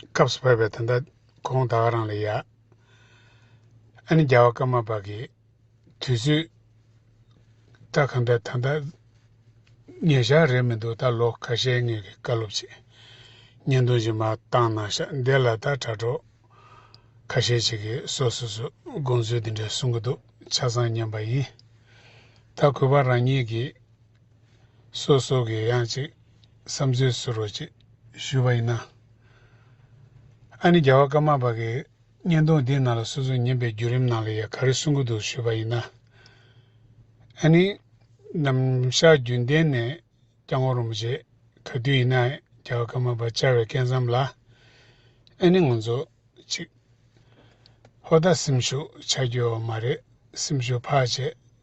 སྐབས་སུ་བབས་པས་ད་ལྟ་ཁོང་ད་བ་རང་ལ་ཡ། ཨ་ནི་རྒྱལ་བ་ཀརྨ་པ་ཀི། དུས་ཚོད། ད་གང་འདྲ་ད་ལྟ། ཉེ་ཞག་རེད་མི་འདུག་ད་ལོ་ཁ་ཤས་ངེད་ཀྱི་བཀའ་སློབ་ཆེད། བརྙན་ཐུང་ཞིག་མ་བཏང་ན་ཤག་འདི་ལ་ད་དྲ་གྲོགས། ཁ་ཤས་ཅིག་གིས་སོ་སོ་སོས་དགོངས་ཚུལ་འདི་འདྲ་གསུང་གི་འདུག་ཆ་ཚང་ཉན་པ་ཡིན། ད་གུས་པ་རང་ཉིད་ཀྱིས། སོ་སོ་གི་ཡང་ཅིག་བསམ་ཚུལ་ཟུར་རོ་ཅིག་ཞུས་པ་ཡིན་ན། ཨ་ནི་རྒྱལ་བ་ཀརྨ་པ་གི་བརྙན་ཐུང་འདི་ནང་ལ་སོ་སོའི་ཉན་པའི་བརྒྱུད་རིམ་ནང་ལ་ཡང་ག་རེ་གསུང་གི་འདུག་ཞུས་པ་ཡིན་ན། ཨ་ནི། ནམ་བཞག་རྒྱུན་ལྡན་ནས་སྐྱག་ངོ་རོང་པོ་བྱེད་ག་དུས་ཡིན་ན་རྒྱལ་བ་ཀརྨ་པ་བཅའ་བའི་སྐལ་མཚམས་ལ། ཨ་ནི་ངོ་མཛོད་ཅིག། ཧོ་ད་སེམས་ཤུགས་ཆགས་རྒྱུའོ་མ་རེད་སེམས་ཤུགས་འཕགས་བྱེད་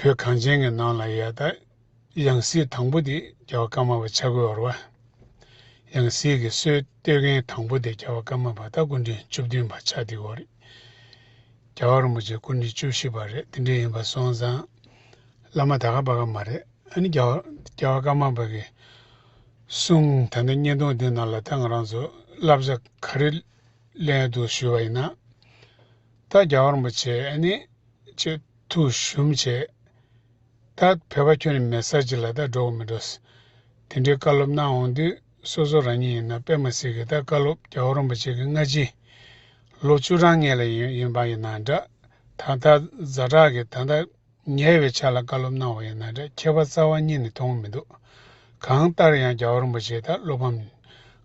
བོད་གངས་ཅན་གྱི་ནང་ལ་ཡལ་ད། ཡང་སྲིད་དང་པོ་དེ་རྒྱལ་བ་ཀརྨ་པ་ཆ་བགོས་བོར་བ། ཡང་སྲིད་ཀྱི་སྲོལ་གཏོད་མཁན་དང་པོ་དེ་རྒྱལ་བ་ཀརྨ་པ་སྟག་སྐུ་འཕྲེང་བཅུ་བདུན་པ་ཆ་དེའོ་རེད། རྒྱལ་བ་རིན་པོ་ཆེ་སྐུ་འཕྲེང་བཅུ་བཞི་པ་རེད་དེ་འདྲས་ཡིན་པ་སོང་ཙང། བླ་མ་ད་ག་པ་ག་མ་རེད་ཨ་ནི་རྒྱལ་བ་ཀརྨ་པ་གིས་གསུང་ད་ལྟ་བརྙན་ཐུང་འདི་ནང་ལ་ད་ང་རང་ཚོ་བསླབ་བྱ་ག་རེ་ལེན་འདུག་ཞུས་པ་ཡིན་ན། ད་རྒྱ་བར་མོ་བྱས་ཨེ་ནི། ཅེས་ཐུགས་གཞུམ་བྱས། ད་ཕལ་པ་ཁྱོད་ནི་མེད་ས་ཅིག་ལ་ད་འགྲོ་གི་མི་འགྲོ། དེ་འདྲའི་བཀའ་སློབ་གནང་འོང་དུས་སོ་སོ་རང་ཉིད་ཡིན་ན་དཔེ་མ་སྲིད་ཀྱི་ད་བཀའ་སློབ་རྒྱ་བར་མོ་བྱེད་ཀྱི་སྔ་ཕྱི། ལོ་བཅུ་གྲངས་ངེས་ལ་ཡིན་ཡིན་པ་ཡིན་ན་འདྲ། ད་ལྟ་རྫ་བྲག་གི་ད་ལྟ་ཉེ་བའི་ཆ་ལ་བཀའ་སློབ་གནང་བ་ཡིན་ན་འདྲ་ཁྱད་པར་རྩ་བ་གཉིས་ནི་མཐོང་གི་མི་འདུག་གང་ལྟར་ཡང་རྒྱ་བར་མོ་བྱེད་ད་སློབ་ཕམ།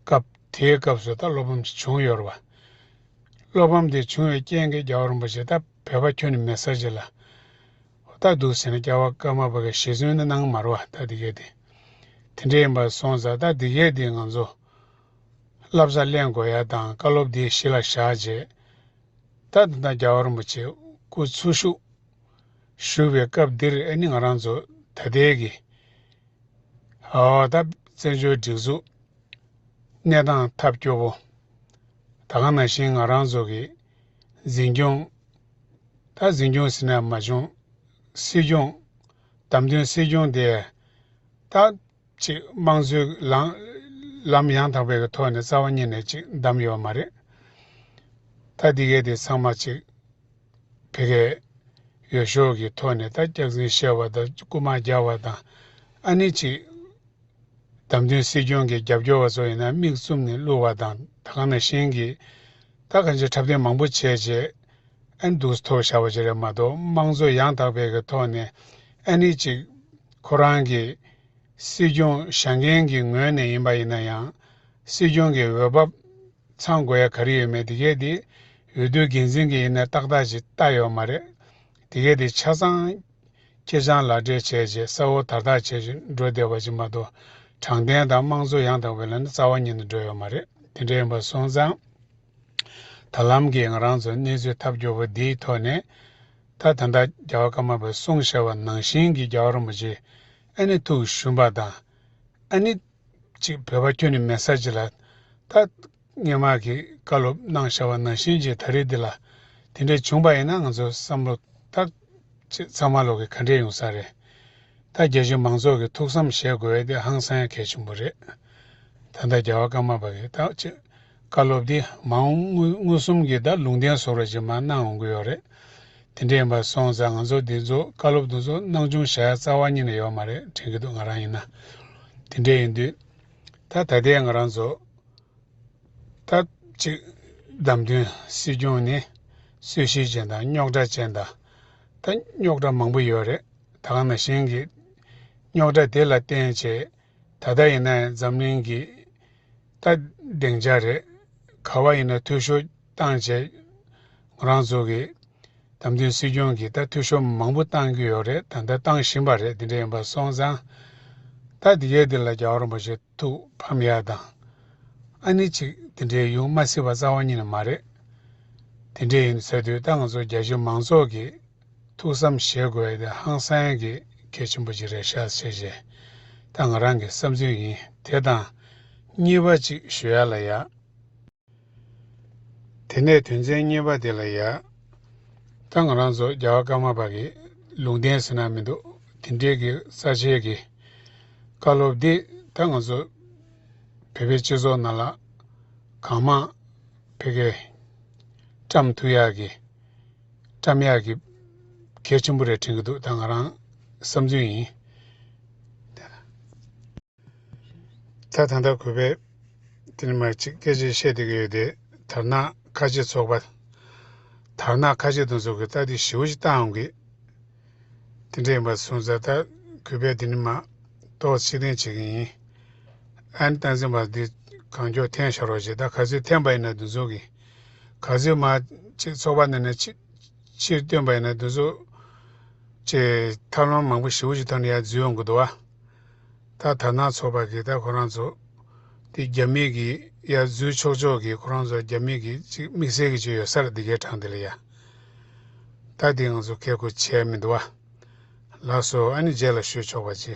སྐབས་དེའི་སྐབས་སུ་ད་སློབ་ཕམ་ཞིག་བྱུང་ཡོད་རེད་བ། བློ་ཕམ་དེ་བྱུང་བའི་རྐྱེན་གྱིས་རྒྱ་གར་རིན་པོ་ཆེ་ད་བོད་པ་ཁྱོད་ནི་མེད་ས་ཅི་ལ་ལྟ་འདུག་ཟེར་ན་སྐྱ་བ་སྐར་མ་བོད་པའི་ཞེ་བཙུན་ནི་གནང་མར་བ་ད་དེ་གས་དེ་དེ་འདྲས་ཡིན་པར་སོང་ཟ་ད་དེ་གས་དེ་ང་ཚོ་བསླབ་བཟའ་གླེན་དགོས་ཡ་དང་བཀའ་སློབ་དེ་གཞི་ལ་བཞག་རྗེས་ད་དེ་དང་རྒྱ་བ་རིན་པོ་ཆེ་སྐུ་འཚོ་བཞུགས་བཞུགས་པའི་སྐབས་འདིར་ཨེ་ནི་ང་རང་ཚོ་ད་དེ་གས་ཨོ་ད་བཙན་བྱོལ་སྒྲིག་འཛུགས་གནས་སྟངས་ཐབས་སྐྱོ་བོ། ད་གང་ན་བཞིན་ང་རང་ཚོ་གིས། འཛིན་སྐྱོང། ད་འཛིན་སྐྱོང་ཟེར་ནའང་མ་བྱུང། སྲིད་སྐྱོང། བདམས་ཐོན་སྲིད་སྐྱོང་དེ། ད། ཅིག་དམངས་གཙོའི་ལམ། ལམ་ཡང་དག་པའི་གི་ཐོག་ནས་རྩ་བ་ཉིད་ནས་ཅིག་བདམས་ཡོད་པ་མ་རེད། ད་འདི་གའི་དེ་ཚང་མ་ཅིག། ཕལ་སྐད། ཡོ་ཤོག་གི་ཐོག་ནས་ད་སྐྱག་རྫུན་བཤད་པ་དང་རྐུ་མ་རྒྱག་པ་དང། ཨ་ནི་ཅིག། བདམས་ཐོན་སྲིད་སྐྱོང་གི་རྒྱབ་སྐྱོར་བ་ཚོ་ཡིན་ན་མིག་བཙུམ་ནས་བསླུ་བ་དང་ད་ག་ན་གཞན་གྱིས། ད་ག་ཇེ་འཁྲབ་སྟོན་མང་པོ་བྱས་རྗེས། ཨན་འདུག་ཐོག་བཞག་པ་ཅི་རེད་མ་གཏོགས་དམངས་གཙོ་ཡང་དག་པའི་གི་ཐོག་ནས་ཨན་ནི་ཅིག། ཁོ་རང་གི། སྲིད་སྐྱོང་བཞག་མཁན་གྱི་ངོས་ནས་ཡིན་པ་ཡིན་ན་ཡང། སྲིད་སྐྱོང་གི་འོས་བབ། ཚང་དགོས་ཡ་ག་རེ་ཡོད་མེད་དེ་གས་དེ། འོས་བསྡུ་འགན་འཛིན་གྱི་ཡིན་ན་ཏག་ཏག་ཅིག་ལྟ་ཡོད་མ་རེད། དེ་གས་དེ་ཆ་ཚང། ཁྱེད་རང་ལག་སྦྲེལ་བྱས་རྗེས་གསལ་བོ་དར་ཐག་ཆད་ཅིག་འགྲོ་བདེ་བ་ཅིག་མ་གཏོགས། དྲང་བདེན་དང་དམངས་གཙོ་ཡང་དག་པའི་ལམ་ནི་རྩ་བ་ཉིད་དུ་འགྲོ་ཡོད་མ་རེད་དེ་འདྲ་ཡིན་པ་སོང་ཙང། ད་ལམ་གྱི་ང་རང་ཚོ་གནས་ཚུལ་ཐབས་སྐྱོ་བོ་འདིའི་ཐོག་ནས། ད་ད་ལྟ་རྒྱ་བ་ཀརྨ་པའི་གསུང་ཞེས་པ་ནང་བཞིན་གྱི་རྒྱ་བ་རིན་པོ་ཆེ་ཨ་ནི་ཐུགས་ཞུམ་པ་དང། ཨ་ནི། ཅིག་བོད་པ་ཁྱོད་ནི་མེད་ས་ཅི་ལ། ད། སྙན་ངག་གི་བཀའ་སློབ་གནང་བཞག་པ་ན་གཤེན་རྗེ་ད་རེས་འདི་ལ་དེ་འདྲས་བྱུང་པ་ཡིན་ན་ང་ཚོ་བསམ་བློ་ཐག་ཆེད་ཚང་མ་ལོག་གི་ག་འདྲས་ཡོང་ས་རེད་ད་རྒྱ་གཞུང་མང་ཚོགས་ཀྱི་ཐུགས་བསམ་བཞེས་དགོས་འི་དེ་ཧང་སང་ཡ་གལ་ཆེན་པོ་རེད་ད་ལྟ་རྒྱ་བ་ཀརྨ་པ་གི་ད་ཆེད་བཀའ་སློབ་འདི་མ་འོང་དངུལ་དངུལ་གསུམ་གྱི་ད་ལུང་བསྟན་ཟོག་ར་ཅིག་མ་གནང་འོང་གི་ཡོག་རེད་དེ་འདྲས་ཡིན་པ་སོང་ཙང་ང་ཚོ་འདི་ཚོ་བཀའ་སློབ་འདུ་ཚོ་གནང་བྱུང་བཞག་ཡ་རྩ་བ་ཉིད་ནས་ཡོག་མ་རེད་དྲན་གི་འདུག་ང་རང་ཡིན་ན་དེ་འདྲས་ཡིན་དུས་ད་ད་ལྟའི་ང་རང་ཚོ། སྟབས་གཅིག་བདམས་ཐོན་སྲིད་སྐྱོང་ནི་གསོལ་བཞེས་ཅན་དང་རྙོག་དྲ་ཅན་དང། ད་རྙོག་དྲ་མང་པོ་ཡོད་རེད་ད་གང་ན་གཞན་གྱི་རྙོག་དྲ་དེ་ལ་བརྟེན་བྱས་ད་ལྟ་ཡིན་ན་འཛམ་གླིང་གི་སྟ་གདེང་འཇགས་རེད་ག་བ་ཡིན་ན་འཐུས་ཤོར་བཏང་བྱས་ངོ་རང་ཚོ་གི་བདམས་ཐོན་སྲིད་སྐྱོང་གི་ད་འཐུས་ཤོར་མང་པོ་བཏང་གི་ཡོད་རེད་དང་ད་བཏང་བཞིན་པ་རེད་དེ་འདྲ་ཡིན་པ་སོང་ཙང་ད་དེ་གའི་དེ་ལ་རྒྱག་རོགས་མ་བྱེད། ཐུགས་ཕམ་ཡག་དང། ཨ་ནི་ཅིག་དེ་འདྲའི་ཡུང་མ་སྲིད་པ་རྩ་བ་ཉིད་ནས་མ་རེད། དེ་འདྲས་ཡིན་ཟེར་དུས་ད་ང་ཚོ་རྒྱ་གཞུང་མང་ཚོགས་ཀྱིས་ཐུགས་བསམ་བཞེས་དགོས་བས་དེ་ཧང་སངས་ཀྱི་གལ་ཆེན་པོ་ཅིག་རེད་ཤག་བྱས་རྗེས་ད་ང་རང་གི་བསམ་ཚུལ་ཡིན་དེ་དང། གཉིས་པ་ཅིག་ཞུ་ཡ་ལ་ཡག། དེ་ནས་དོན་ཚན་གཉིས་པ་དེ་ལ་ཡ། ད་ང་རང་ཚོ་རྒྱ་བ་ཀརྨ་པ་གི་ལུང་བསྟན་ཟེར་ན་མི་འདུག་དེ་འབྲེལ་གྱི་ས་ཆའི་གི་བཀའ་སློབ་འདི་ད་ང་ཚོ་བོད་པའི་སྤྱི་ཚོགས་ནང་ལ་གང་མང་ཕེ་གེ། བཀྲམ་ཐུག་ཡག་གི། བཀྲམ་ཡག་གི། གལ་ཆེན་པོ་རེ་དྲན་གྱི་འདུག་ད་ང་རང་བསམ་ཚུལ་ཡིན། ད་ད་ལྟ་གུས་པས་དེ་ནི་མ་གཅིག་སྐད་ཅིག་བཤད་བསྡད་ཀྱི་ཡོད་དེ། དར་ནག་ཁ་ཆེ་ཚོགས་པ། དར་ནག་ཁ་ཆེ་དང་ཚོགས་ཀྱི་རྟགས་དེ་ཞིའུ་ཞིག་བལྟ་འམ་གི། དེ་འདྲ་ཡིན་པར་སོང་ཙང་ད་གུས་པས་དེ་ནི་མ་གཏོགས་ཕྱིར་འཐེན་བྱེད་ཀྱི་ཡིན། ཨན་ཏན་སེམས་པ་འདི་གང་མགྱོགས་འཐེན་ཤོར་བ་ཞིག་ད་ག་ཚོད་འཐེན་པ་ཡིན་ན་འདི་ཚོ་གི། ག་ཚོད་མ་གཅིག་ཚོགས་པ་ནང་ནས་ཕྱིར་བཏོན་པ་ཡིན་ན་འདི་ཚོ། ཅེས་ཐབས་ལམ་མང་པོ་ཞིའུ་ཞིག་ཐོག་ནས་ཡར་འཛུལ་ཡོང་གི་འདུག་བ། ད་ཐ་ན་ཚོགས་པ་གིས་ད་ཁོ་རང་ཚོ། དེ་རྒྱ་མིག་གིས་ཡ་བཟོས་ཆོག་ཆོག་གིས་ཁོ་རང་ཚོ་རྒྱ་མིག་གིས་ཅིག་དམིགས་བསལ་གིས་བྱོས་ཡོད་སར་འདི་གའི་གྲངས་འདི་ལ་ཡ། ད་དེ་ང་ཚོ་ཁལ་ཁུ་བྱས་མི་འདུག་བ། ལགས་སོ་ཨ་ནི་རྗེས་ལ་ཤོད་ཆོག་པ་ཅི།